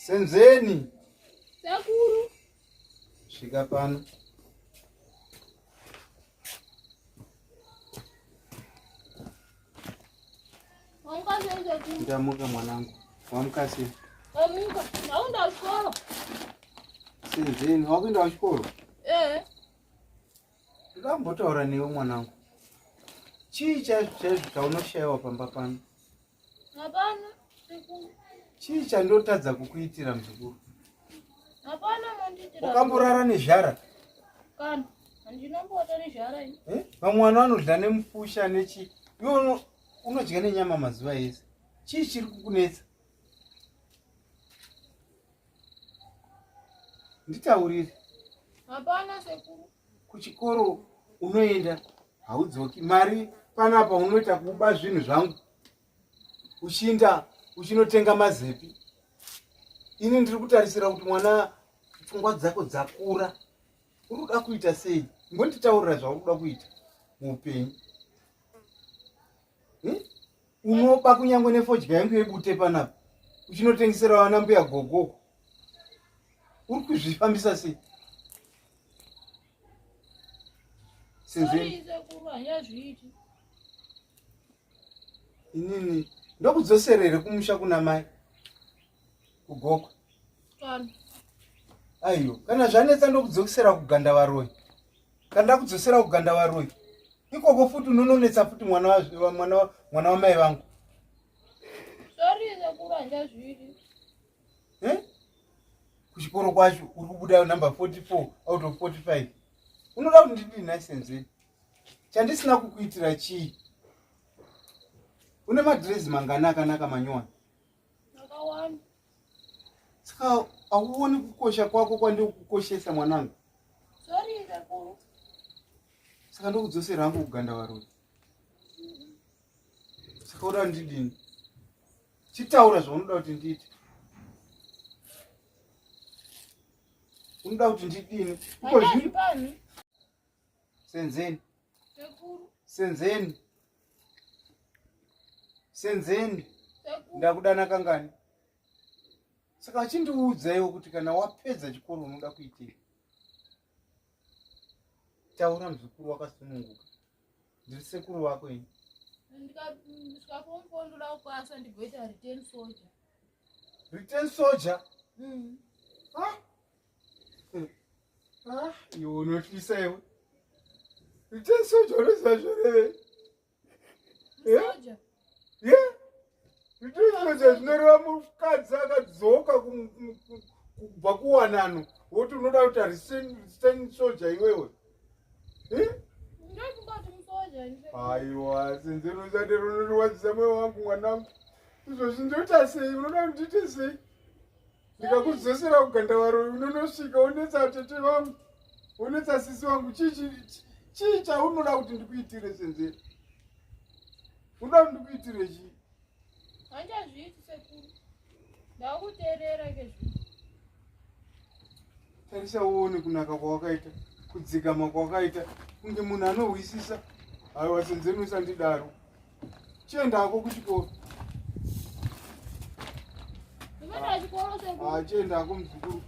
Senzeni. Sekuru. Svika pano. Ndamuka mwanangu. Wamuka sei? Wamuka. Ndaenda kuchikoro. Senzeni, wakuenda kuchikoro? Eh. Ndambotaura newe mwanangu. Chii chaizvo chaizvo chaunoshaiwa pamba pano? Hapana sekuru. Chii chandotadza kukuitira mzukuru? Hapana mandiitira. Wakamborara nezhara? Kana handinomboata nezhara ini. Eh? Vamwe vanhu vanodya nemupusha nechi. Iwe unodya nenyama mazuva ese. Chii chiri kukunetsa? Nditaurire. Hapana sekuru. kuchikoro unoenda haudzoki mari panapa unoita kuba zvinhu zvangu uchiinda uchinotenga mazepi ini ndiri kutarisira kuti mwana pfungwa dzako dzakura uri kuda kuita sei ngonditaurira zvauri kuda kuita muupenyu hmm? unoba kunyangwe nefodya yangu yebute panapa uchinotengesera vana mbuya gogoko uri kuzvifambisa sei sezvei inini ndokudzosera here kumusha kuna mai kugokwa aiyo kana zvanetsa ndokudzokisera kuganda varoyi Kana ndakudzosera kuganda waroyi. Ikoko futi unononetsa futi mwana wa mwana wa mwana wa mai vangu. Sorry sekuru andazvidi. Eh? Kuchikoro kwacho uri kubuda number 44 out of 45. Unoda kuti ndidi license. Chandisina kukuitira chii? Une madress mangana akanaka manyowani. saka hauoni kukosha kwako kwandikukoshesa mwanangu saka ndokudzosera hangu kuganda varoi saka uda ndidini chitaura zvaunoda kuti ndiite unoda kuti ndidini ikozvino senzeni senzeni senzeni ndakudana kangani saka achindiudzaiwo kuti kana wapedza chikoro unoda kuitei taura muzukuru wakasununguka ndiri sekuru wako ini return soldier mm. Ah, iwe unotyisa iwe ite soja unoziva zvoreve ite soja zvinoreva mukadzi akadzoka kubva kuwanano woti unoda kuti arisitani soja iwewe aiwa sinzi ruzati runorwadzisa mweya wangu mwanangu izvozvi ndoita sei unoda kuti ndiite sei ndikakudzosera kugandavaroi unonosvika unetsa atete vangu unetsa sisi vangu chii chaunoda kuti ndikuitire senzeri unoda kuti ndikuitire chii handiazviiti sekuru ndakuteerera kezvi tarisa uone kunaka kwawakaita kudzikama kwawakaita kunge munhu anohwisisa aiwa senzeni usandidaro Chienda hako kuchikoro. Chienda hako muzukuru.